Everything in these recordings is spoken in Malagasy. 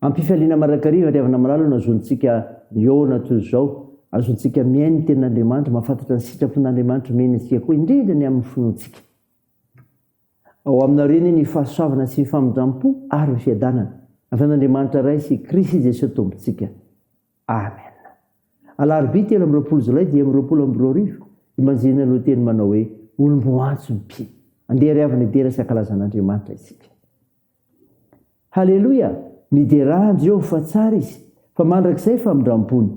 Am-pifaliana marakariva ry havana malala no azontsika mihaona toy izao. Azontsika mihaino ny Tenin'Andriamanitra, mahafantatra ny sitrapon'Andriamanitra omeny antsika koa, indrindra ny amin'ny finoantsika. Ao aminy ao ireny ny fahasoavana sy ny famindram-po ary ny fiadanana. Avy amin'Andriamanitra Ray sy Krisy Jesoa Tompontsika. Amen. Alarobia telo amby roapolo jolay dimy amby roapolo amby roa arivo, Imanjinina no teny manao hoe, Olom-boantso ny mpino. Andeha ry havana hidera sy hankalaza an'Andriamanitra isika. Haleloia! Miderà an'i Jehovah fa tsara izy, fa mandrakizay famindram-pony.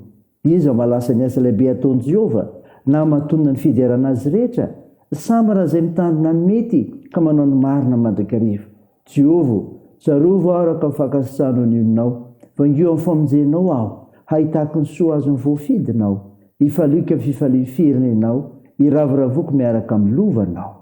Iza mahalasa ny asa lehibe ataon'i Jehovah, na hamatonana ny fiderana azy rehetra? Sambara izay mitandrina ny mety ka manao ny marina mandrakariva. Jehovah ô, tsarovy aho araka ny fankasitrahanao ny olonao. Vangiho amin'ny famonjenao aho, hahitako ny soa azon'ny voafidinao. Hifaliako amin'ny fifalian'ny firenenao, hiravoravoko miaraka amin'ny lovanao.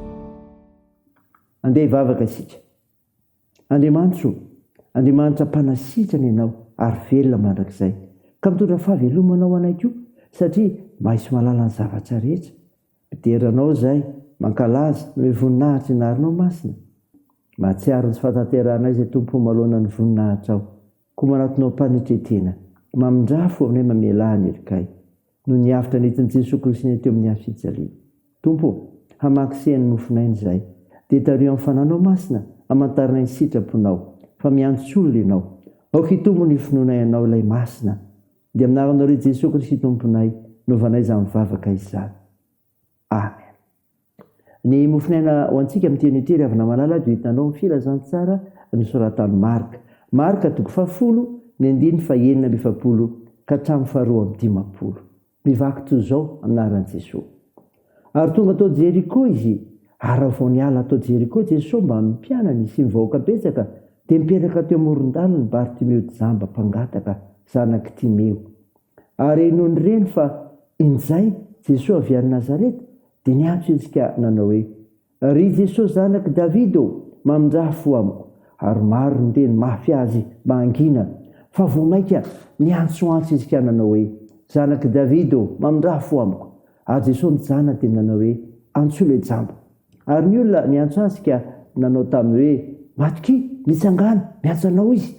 Andeha hivavaka isika. Andriamanitra o, Andriamanitra mpanasitrana Ianao ary velona mandrakizay, ka mitondra fahavelomana ho anay koa, satria mahay sy mahalala ny zavatra rehetra. Midera Anao izahay, mankalaza noho ny voninahitra ianarinao masina. Mahatsiaro ny tsy fahatanterahanay izay Tompo o, maloana ny voninahitrao. Koa manatonao panike tena. Mamindrà fo aminay mamelà ny herikay. Noho ny avotra nentin'Itsy ny sokilisinay teo amin'ny hafijaliana. Tompo ô, hamaky seha ny nofinay ny zay. Dia tario amin'ny fananao masina, amantaranay ny sitraponao. Fa miantso olona ianao. Aoka hitombo ny finoanay anao ilay masina. Dia amin'ny anaranao re Jesoa Kristy Tomponay, novanay izany vavaka izany. Amen. Ny mofonaina ho antsika amin'ity anio ity, ry havana malala, dia ho hitanao ny filazantsara nosoratan'i Marka. Marka, toko fahafolo, ny andininy fahenina amby efapolo ka hatramin'ny faharoa amby dimampolo. Mivaky toy izao anaran'i Jesoa. Ary tonga tao Jeriko Izy. Ary raha vao niala tao Jeriko Jesoa mbamin'ny mpianany sy ny vahoaka betsaka, dia nipetraka teo amoron-dalana i Bartimeo jamba mpangataka, zanak'i Timeo. Ary nony reny fa injay Jesoa avy any Nazareta, dia niantso izy ka nanao hoe, Ry Jesoa zanak'i Davida ô, mamindraha fo amiko! Ary maro ny teny mafy azy mba hangina, fa vao mainka niantsoantso izy ka nanao hoe, Zanak'i Davida ô, mamindraha fo amiko! Ary Jesoa nijanona dia nanao hoe, Antsoy ilay jamba. Ary ny olona niantso azy ka nanao taminy hoe, Matokia, nitsangana, miantso anao izy.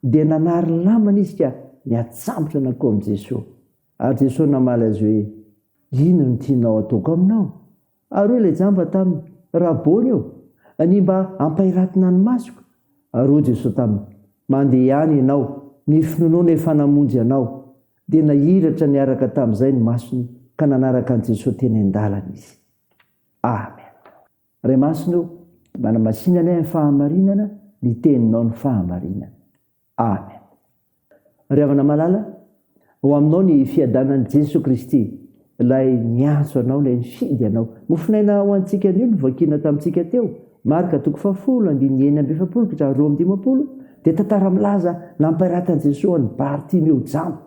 Dia nanary lamana izy ka niatsambotra nankao amin'i Jesoa. Ary Jesoa namaly azy hoe, Inona no tianao hataoko aminao? Ary hoy ilay jamba taminy, Rabôny ô, ania mba ampahiratina ny masoko? Ary hoy Jesoa taminy, Mandeha ihany ianao, ny finoanao efa namonjy anao. Dia nahiratra niaraka tamin'izay ny masony ka nanaraka an'i Jesoa teny an-dalana izy. Amen. Ray Masina o, manamasina anay amin'ny fahamarinana ny teninao ny fahamarinana. Amen. Ry havana malala, ao aminao ny fiadanan'i Jeso Kristy, ilay niantso anao, ilay nifidy anao. Mofonaina ho antsika anio no vakina tamintsika teo, Marka toko fahafolo andininy enina amby efapolo ka hatramin'ny roa amby dimampolo, dia tantara milaza nampiratan'i Jeso an'i Bartimeo jamba.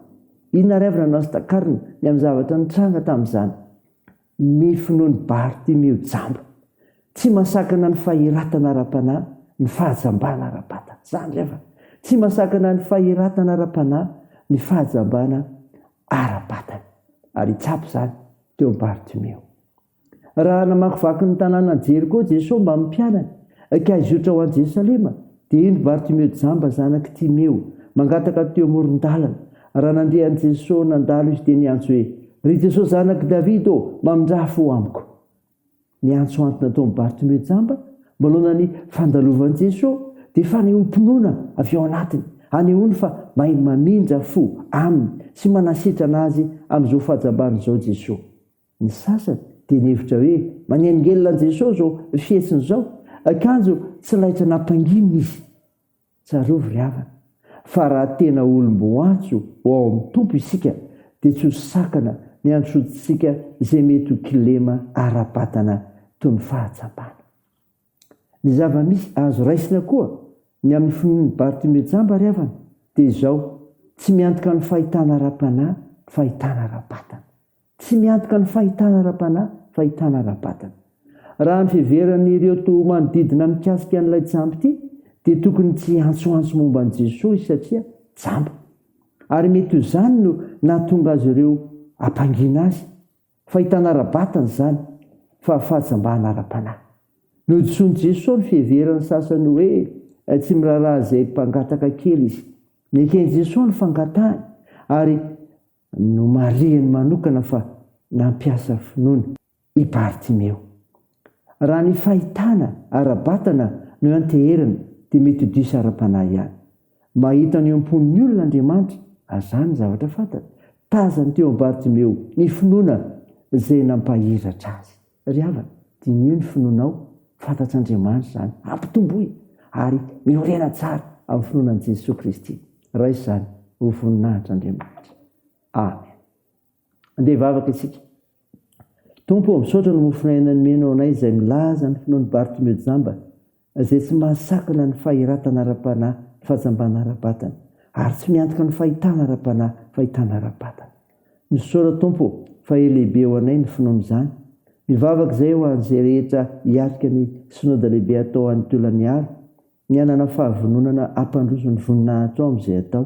Inona ary avy no anao sy takarina ny amin'ny zavatra nitranga tamin'izany? Ny finoan'i Bartimeo jamba. Tsy mahasakana ny fahiratana ara-panahy ny fahajambana ara-batana. Izany re fa tsy mahasakana ny fahiratana ara-panahy ny fahajambana ara-batana. Ary hitsapa izany teo amin'i Bartimeo. Raha namakivaky ny tanànan'i Jeriko Jesosy mbamin'ny mpianany, ka hizotra ho any Jerosalema, Dia indro Bartimeo jamba zanak'i Timeo, mangataka teo amoron-dalana. Raha nandeha an'i Jesosy nandalo izy dia niantso hoe, Ry Jesosy zanak'i Davida ô, mamindraha fo amiko. Niantso antony nataon'i Bartimeo jamba, manoloana ny fandalovan'i Jesosy, dia fanehoam-pinoana avy ao anatiny, hanehoany fa mahay mamindra fo Aminy sy manasitrana Azy amin'izao fahajambany izao Jesosy. Ny sasany dia nihevitra hoe manelingelina an'i Jesoa izao fihetsiny izao, kanjo tsy laitra nampanginina izy. Tsarovy ry havana, fa raha tena olom-boantso ho ao amin'ny Tompo isika, dia tsy ho sakana ny handrosoantsika izay mety ho kilema ara-batana toy ny fahatsapana. Ny zava-misy azo raisina koa ny amin'ny finoan'i Bartimeo Jamba ry havana dia izao, tsy miantoka ny fahitana ara-panahy, fahitana ara-batana. Tsy miantoka ny fahitana ara-panahy, fahitana ara-batana. Raha ny fiheveran'ireo toa manodidina mikasika an'ilay jamba ity dia tokony tsy hiantsoantso momba an'i Jesoa izy satria jamba. Ary mety ho izany no nahatonga azy ireo hampangina azy. Fahitana ara-batana izany fa fahatsambahana ara-panahy. Nodisoan'i Jesoa ny fiheveran'ny sasany hoe tsy miraharaha izay mpangataka kely izy. Neken'i Jesoa ny fangatahany ary nomarihiny manokana fa nampiasa finoana i Bartimeo. Raha ny fahitana ara-batana no ianteherana dia mety ho diso ara-panahy ihany. Mahita ny eo am-pon'ny olona Andriamanitra azany ny zavatra fantany. Tazany teo amin'i Bartimeo ny finoana izay nampahiratra azy. Ry havana, diniho ny finoanao, fantatr'Andriamanitra izany, ampitomboy, ary miorena tsara amin'ny finoana an'i Jesoa Kristy. Raiso izany ho voninahitr'Andriamanitra. Amen. Andeha hivavaka isika. Tompo ô, misaotra ny mofon'aina nomenao anay izay milaza ny finoan'i Bartimeo jamba, izay tsy mahasakana ny fahiratana ara-panahy, ny fahajambana ara-batana, ary tsy miantoka ny fahitana ara-panahy, fahitana ara-batana. Misaora Tompo ô, fa he lehibe ho anay ny finoana izany. Mivavaka izay ho an'izay rehetra hiatrika ny Synoda Lehibe hatao any Tolagnaro, ny hanana fahavononana hampandroso ny voninahitrao amin'izay atao.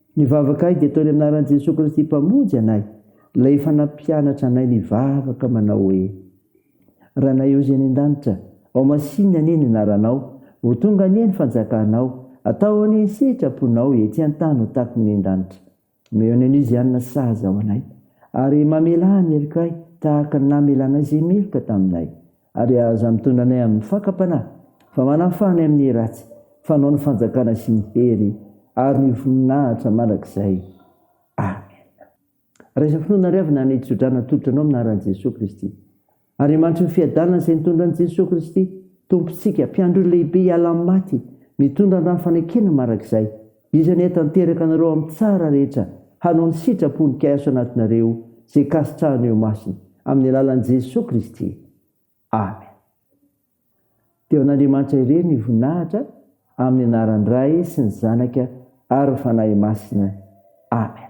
Ny vavakay dia ataony amin'ny anaran'i Jesoa Kristy Mpamonjy anay, Ilay efa nampianatra anay nivavaka manao hoe, Ranay Ozy any An-danitra, ao Masinina anie ny anaranao, ho tonga anie ny fanjakanao, atao anie ny sitraponao ety an-tany ho takon'ny any an-danitra. Omeo ny an'Oziana sazy ao anay, ary mamelà ny helokay tahaka ny namelanay izay meloka taminay. Ary aza mitondra anay amin'ny fakam-panahy, fa manafaha anay amin'ny ratsy, fa anao ny fanjakana sy ny hery ary ny voninahitra mandrakizay. Amen. Raiso finoana ary avy na ny tso-drano atolotra anao amin'ny anaran'i Jesoa Kristy. Andriamanitry ny fiadanana izay nitondra an'i Jesoa Kristy, Tompontsika, Mpiandry olona lehibe hiala amin'ny maty, mitondra ny rano fanekena mandrakizay. Iza ny atanteraka anareo amin'ny tsara rehetra hanao ny sitrapony ka hiasa anatinareo izay kasitrahany eo imasiny amin'ny alalan'i Jesoa Kristy. Amen. Dia ho an'Andriamanitra irery ny voninahitra amin'ny anaran'ny Ray sy ny Zanaka ary ny Fanahy Masina. Amen.